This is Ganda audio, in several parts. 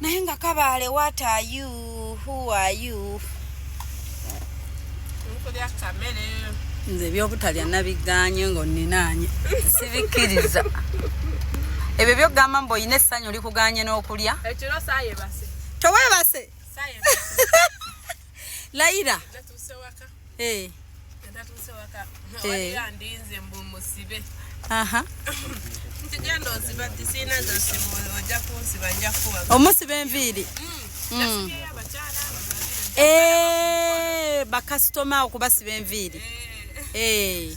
naye nga kabaale what are you who are you nze ebyobutalya nabiganye nga oninaanye sibikkiriza ebyo byogamba mbu olina essanyu olikuganye n'okulya tewebase layira Eh. omusiba enviiri hmm. hmm. eh, bakasitoma okubasiba enviiri eh.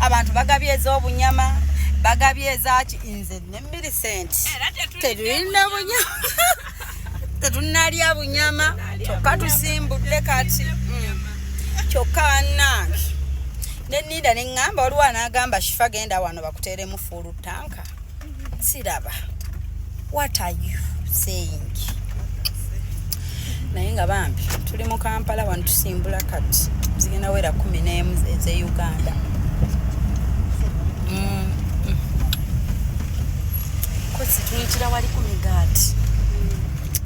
abantu bagabye ez'obunyama bagabye ezaki nze ne milicent tetulina bunyama tetunalya bunyama kyokka tusimbudde kati mm. kyokka banange nenida neŋŋamba waliwo anaagamba shifa genda wano bakuteeremu fuulu tanka siraba what are you saying naye nga bambi tuli mu kampala wano tusimbula kati zigenda wera kumi n'emu eze uganda mm. kozitungira wali ku migaati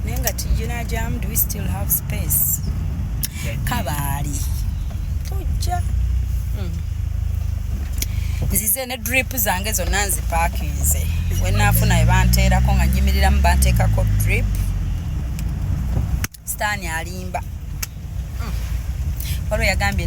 naye nga tiyina jamu do we still have space kabaali tujja mm. nze ne drip zange zonna nzipakinze wenaafuna we banteerako nga nyimiriramu banteekako drip sitaani alimba hmm. waliwo yagambye